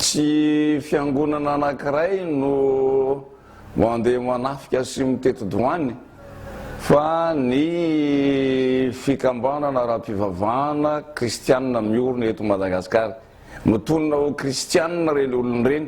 Tsy fiangonana anankiray no mandeha manafika sy miteti-doany fa ny fikambanana ara-pivavahana kristianina miorina eto Madagasikara. Mitonona ho kristianina ireny olona ireny.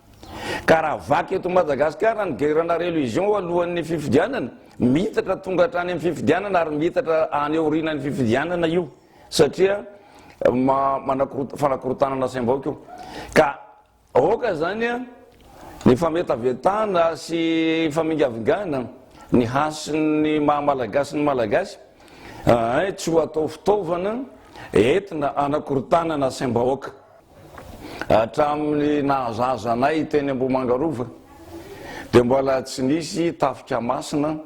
Ka raha vaky eto Madagasikara ny guerre-na religion alohan'ny fifidianana, miitatra tonga hatrany amin'ny fifidianana ary miitatra any aorianan'ny fifidianana io satria manakorot- fanakorotanana saim-baoka io. Ka aoka zany a, ny fametavetana sy famingavingana ny hasin'ny maha Malagasy ny Malagasy, ahay tsy ho atao fitaovana entina anakorotanana saim-bahoaka. Hatramin'ny nahazaza anay teny Ambohimangarova dia mbola tsy nisy tafika masina,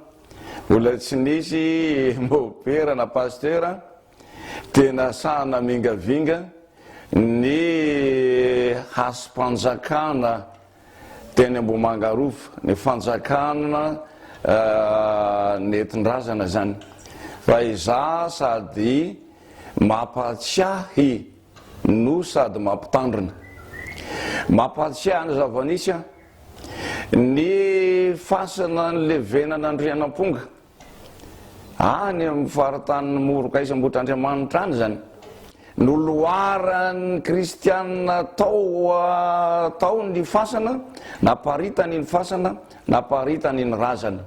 mbola tsy nisy mopera na pasitera, tena sahy namingavinga ny hasim-panjakana teny Ambohimangarova, ny fanjakana nentin-drazana izany. Fa izaho sady mampatsiahy. no sady mampitandrina. Mampahatsiahy ny zava-nisy an! Ny fasana nilevenana Andrianamponga, any amin'ny faritanin'i Morokaisa Ambohitrandriamanitra any izany, noloaran'ny kristiana tao tao ny fasana, naparitany iny fasana, naparitany iny razana.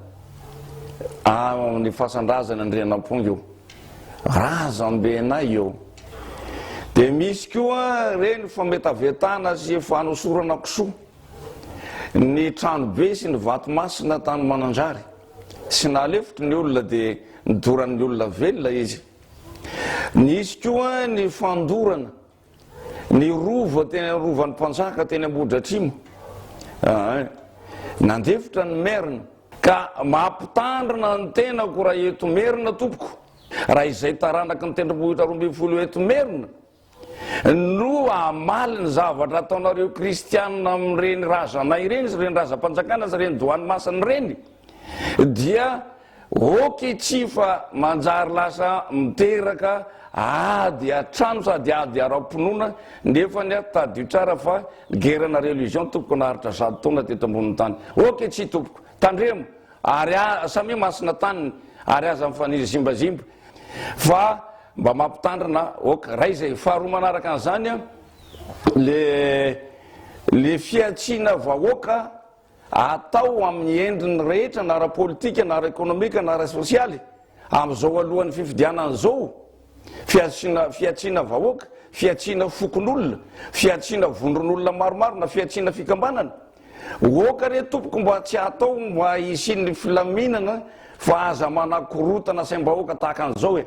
Amin'ny fasan-drazana Andrianamponga io. Razambenay eo. Dia misy koa ireny fametavetana sy fanosorana kisoa ny tranobe sy ny vato masina tany Mananjary. Tsy nahalefitry ny olona dia nidoran'ny olona velona izy. Nisy koa ny fandorana ny rova teny amin'ny rovan'ny mpanjaka teny Ambohidratrimo ah, eh. nandefitra ny merina ka mampitandrina ny tenako raha eto merina tompoko raha izay taranaky ny tendrombohitra roa ambin'ny folo eto merina no amaly ny zavatra ataonareo kristianina amin'ireny razanay ireny sy ireny razam-panjakana sy ireny doany masina ireny dia ok tsy fa manjary lasa miteraka ady atrano sady ady ara-pinoana nefa ny aho tadio tsara fa gerana religion tompoko naharitra zato taona teto ambonin'ny tany ok tsy tompoko tandremo ary samia masina taniny ary aza mifaniry zimbazimba fa mba mampitandrina ok ray zay faharoa manaraka an'izany a le le fiatsiana vahoaka atao amin'ny endriny rehetra na ara-politika na ara-ekonomika na ara-sosialy amin'izao alohan'ny fifidianana izao, fihatsiana fihatsiana vahoaka, fihatsiana fokonolona, fihatsiana vondron'olona maromaro na fihatsiana fikambanana. Oka re tompoko mba tsy atao mba hisian'ny filaminana fa aza manakorotana saim-bahoaka tahaka an'izao e!